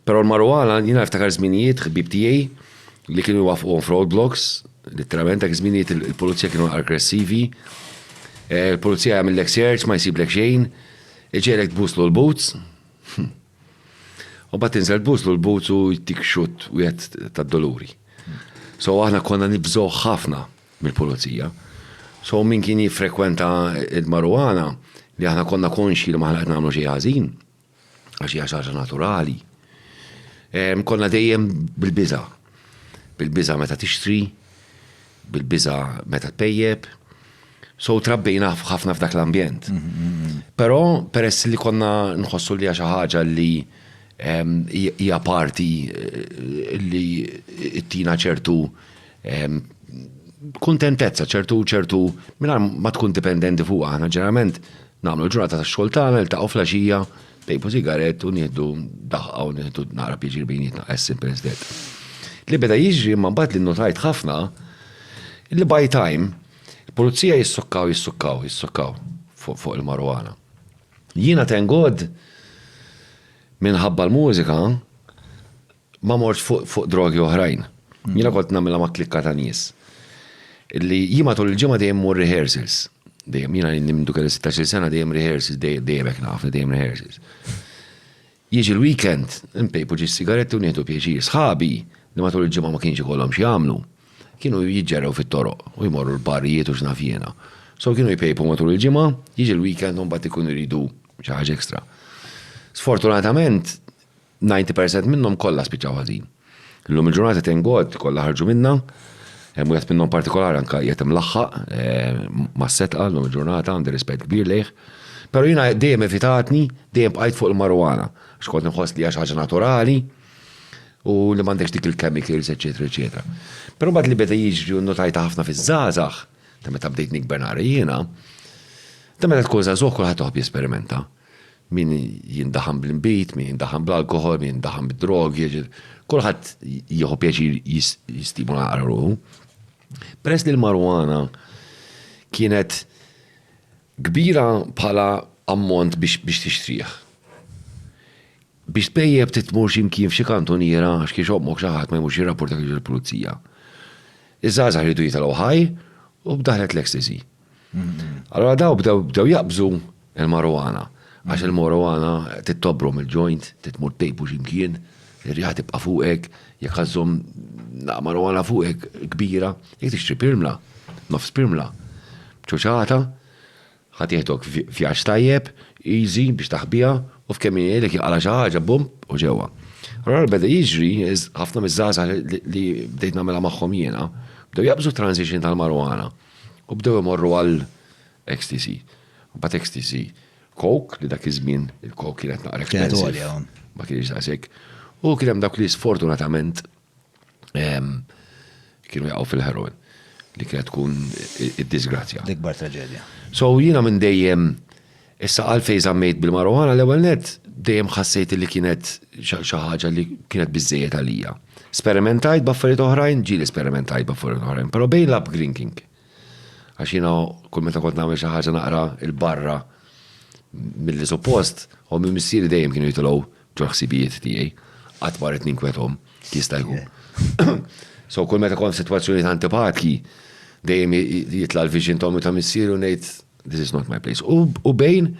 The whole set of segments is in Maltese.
Però l-marru għala, jiena niftakar żminijiet ħbieb tiegħi li kienu jwaffquhom f'road blocks, litteralment dak iż-żminijiet il-pulizija kienu aggressivi. Eh, il-pulizija jagħmillek search, ma jsiblek xejn, iġejlek tbuslu l-boots. U bat tinżel tbuslu l-boots u jtik xut wieħed tad-doluri. So aħna konna nibżgħu ħafna mill-pulizija. So min kien jiffrekwenta il-marwana li aħna konna konxi li maħna qed nagħmlu xi ħażin, għax hija xi ħaġa naturali. Ehm, konna dejjem bil-biża. Bil-biża meta tixtri, bil-biża meta tpejjeb. So trabbejna ħafna f'dak l-ambjent. Mm-hmm. Però peress li konna nħossu li xi ħaġa li ehm, hija parti eh, li ttina ċertu Ehm, kuntentezza ċertu ċertu mingħajr ma tkun dipendenti fuq aħna ġeneralment nagħmlu ġurnata ta' xogħol tagħna ltaqgħu flaxija tejbu sigaret u nieħdu daħqa u nieħdu naqra pjaċir bejnietna as simple as that. Li beda jiġri ma mbagħad li notajt ħafna li by time il-pulizija jissukkaw jissukkaw jissukkaw fuq il-marwana. Jiena tengod minħabba l-mużika Ma mortx fuq drogi oħrajn. Jiena kont nagħmilha ma' klikka ta' nies. Illi jien matul il-ġimgħa dejjem mur rehearsals. Dejjem jiena li nimdu kelli 16 sena dejjem rehearsals, dejjem hekk nafni dejjem rehearsals. Jiġi l-weekend, npejpu ġis sigaretti u nieħdu pjaċir. Sħabi li matul il-ġimgħa ma kienx ikollhom x'jagħmlu, kienu jiġġergħu fit-toroq u jmorru l-barrijiet u x'naf jiena. So kienu jpejpu matul il-ġimgħa, jiġi l-weekend u mbagħad ikunu jridu xi ħaġa extra. Sfortunatament, 90 percent minnhom kollha spiċċaw ħażin. Illum il-ġurnata thank God kollha ħarġu minnha. Hemm wieħed minnhom partikolari anke qiegħed imlaħħaq eh, ma' setqa llum il-ġurnata għandi rispett kbir lejh. Però jiena dejjem evitatni, dejjem bqajt fuq il-marijuana. Xkont nħoss li għax ħaġa naturali, u li m'għandekx dik il-chemicals, eċetera, eċetera. Però mbagħad li beda jiġri notajta ħafna fiż-żgħażagħ, ta' meta bdejt nikber nara jiena, ta' meta tkun żagħżugħ kulħadd toħob jesperimenta. Min jindaħan bl-inbid, min jindaħan bl-alkoħol, min jindaħan bid-drogi, kulħadd jieħu pjaċir jistimula għal ruħu. Peress li l-marwana kienet kbira bħala ammont biex tixtrieħ. Biex tbejjeb titmur ximkien f'xi kantuniera għax kiex ommok xi ħadd ma jmurx jirrapporta kiex il-pulizija. Iż-żgħażagħ jridu jitalgħu ħaj u b'daħlet l-ecstasy. Allora daw bdew jaqbżu il-marijuana. Għax il-marijuana tittobrom il-ġojnt, titmur tejbu ximkien, ir-riħa tibqa' fuqek, jekk għazzom naqqa marijuana fuqek kbira, jekk tixtri pirmla, nofs pirmla, ċoċata, ħadd jieħdok vjaġġ tajjeb, easy biex taħbiha, u f'kemm jgħidlek jinqala' xi ħaġa bum u ġewwa. Allora beda jiġri ħafna miż-żgħażagħ li bdejt nagħmilha magħhom jiena, bdew jaqbżu t-transition tal-marijuana. U bdew imorru għal Ecstasy. Mbagħad Ecstasy, Coke, li dak iż-żmien il-Coke kienet naqra expensive. Ma kienx daqshekk. U kien hemm dawk li sfortunatament ehm, kienu jaqgħu fil-heroin li kienet tkun id-disgrazzja. L-ikbar traġedja. So jiena minn dejjem Issa għalfejn żammejt bil-marijuana, l-ewwel nett dejjem ħassejt li kienet xi ħaġa li kienet biżżejjed għalija. Sperimentajt b'affarijiet oħrajn, ġieli sperimentajt b'affarijiet oħrajn, però bejn l-upgrinking, għax jiena kull meta kont nagħmel xi ħaġa naqra il barra milli suppost, ommi u missieri dejjem kienu jitilgħu ġol-ħsibijiet tiegħi, qatt ma ridtni nkwethom, jista' jkun. So kull meta kont f'sitwazzjonijiet antipatki, dejjem jitla' l-vision ta' ommi u ta' missieri u ngħid, This is not my place. U bejn,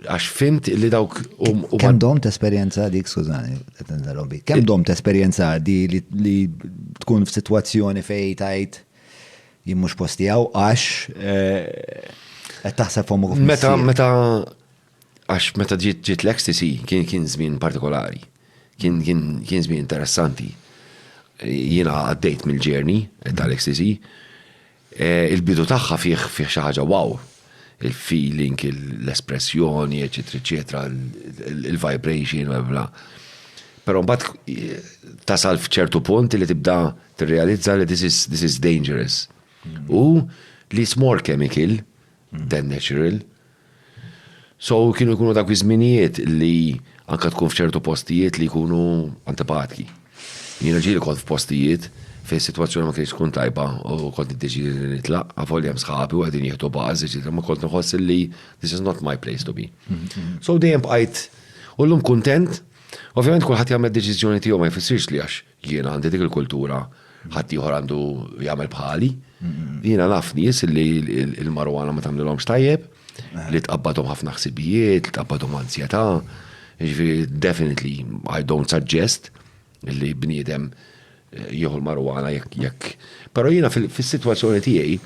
għax fimt li dawk u. Kem dom t-esperienza dik, skużani, t-interrompi. Kem dom t-esperienza di li tkun f-situazzjoni fej tajt jimmux postijaw, għax eh, taħseb fomu kif. Meta, meta, għax meta ġiet ġiet l-ecstasy kien kien żmien partikolari. Kien kien kien żmien interessanti. Jiena għaddejt mill-ġerni tal-ecstasy. Il-bidu tagħha fih fih xi ħaġa wow. Il-feeling, l-espressjoni, eċetera, eċetera, il-vibration, bla bla. Però mbagħad tasal f'ċertu punt li tibda tirrealizza li this is, this is dangerous. U li it's more chemical Dan natural. So kienu jkunu dak iż-żminijiet li anke tkun f'ċertu postijiet li jkunu antipatki. Jiena ġieli kont f'postijiet fejn is-sitwazzjoni ma kienx tkun tajba u kont niddeċiedi li nitlaq, avolja hemm sħabi u qegħdin jieħdu bars, eċetera, ma kont nħoss li this is not my place to be. So dejjem bqajt u llum kuntent, ovvjament kulħadd jagħmel id-deċiżjoni tiegħu ma jfissirx li għax Jien għandi dik il-kultura ħadd ieħor għandu jagħmel bħali. Jiena naf nies li l-marwana ma tagħmlilhomx tajjeb, li tqabbadhom ħafna ħsibijiet, li tqabbadhom anzjetà. Jiġifieri definitely I don't suggest li bniedem eh, jieħu l-marwana jekk jekk. Però jiena fis-sitwazzjoni tiegħi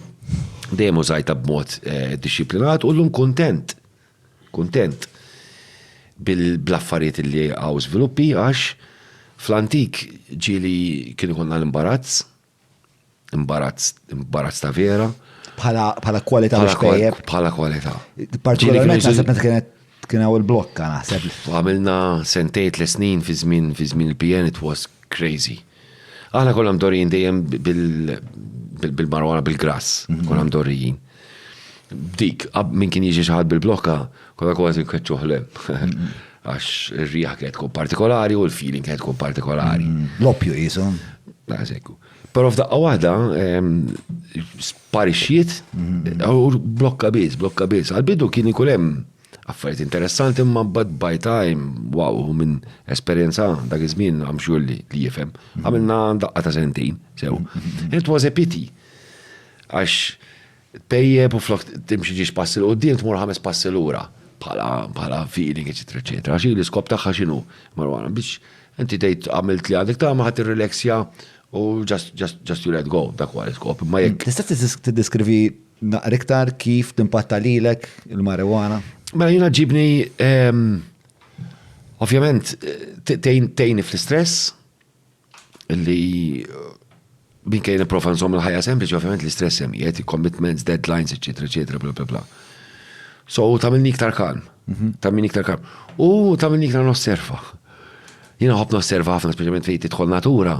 dejjem użajta b'mod eh, disciplinat u llum kuntent Kuntent bl-affarijiet li hawn żviluppi għax fl-antik ġieli kien ikollna l-imbarazz, imbarazz, imbarazz ta' vera. Bħala, bħala kwalità biex tejjeb. Bħala kwalità. Partikolarment naħseb meta kienet kien hawn il-blokka naħseb. Għamilna sentejn tliet snin fi żmien fi żmien il-PN it was crazy. Aħna konna mdorrijin dejjem bil-marwana bil-grass, mhm. konna mdorrijin. Dik, minn kien jiġi xaħad bil-blokka, konna kważi nkeċċuħ lem. Mhm. Għax ir-riħa kienet tkun partikolari u l-feeling kienet tkun partikolari. Mhm. L-oppju jisu. Għazekku. Pero f'daqqa waħda, sparixxiet, u blokka biz, blokka biz. Għal-bidu kien ikun hemm Affarijiet interessanti imma bad by time, wow, u minn esperjenza dak iż-żmien għam xulli li jifhem. Mhm. Għamilna daqqa ta' sentin, sew. Mhm. It was a pity. Għax tejjeb u flok timxi ġiex passi l qoddim tmur ħames passi lura bħala feeling, eċetera, eċetera. Għax li skop tagħha x'inhu marwana biex inti tgħid għamilt li għandek tagħma ħadd irrilexja u just, just, just you let go, dak huwa l-iskop. Imma jekk. Tista' tiddiskrivi Naqra iktar kif timpatta lilek il-marijuana? Mela jiena ġibni ehm, ovvjament tejni fl-istress li minn kejn profa nżomm il-ħajja sempliċi, ovvjament l-istress hemm qiegħed, commitments, deadlines, eċetera, eċetera, bla bla bla. So tagħmilni iktar kalm, mhm. tagħmilni iktar kalm. U tagħmilni iktar nosserva. Jien nħobb nosserva ħafna speċjalment fejn tidħol natura,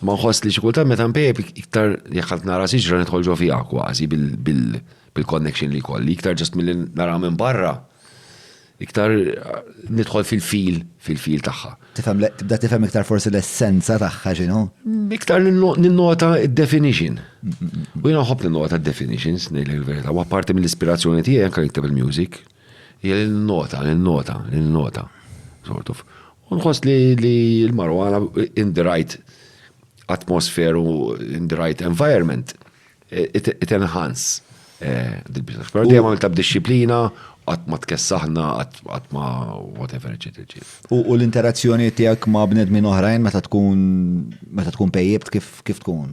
ma nħoss li xi kultant meta npejb iktar jekk qed nara siġra nidħol ġo fiha kważi bil-connection li kolli, iktar ġust milli nara minn barra, iktar nidħol fil-fil, fil-fil tagħha. Tifhem tibda tifhem iktar forsi l-essenza tagħha x'inhu? Iktar ninnota d-definition. U jien nħobb ninnota d-definitions ngħidlek il-verità, u apparti mill-ispirazzjoni tiegħi anke nikteb il-music, Hija li ninnota, ninnota, ninnota, sort of. U nħoss li l-marijuana in the right atmosphere u in the right environment it enhance dil-biża. Però dejjem għamiltha b'dixxiplina, qatt ma tkessaħna, qatt ma whatever, eċċetera, eċċetera. U l-interazzjoni tiegħek ma' bnedmin oħrajn meta tkun meta tkun pejjipt kif tkun?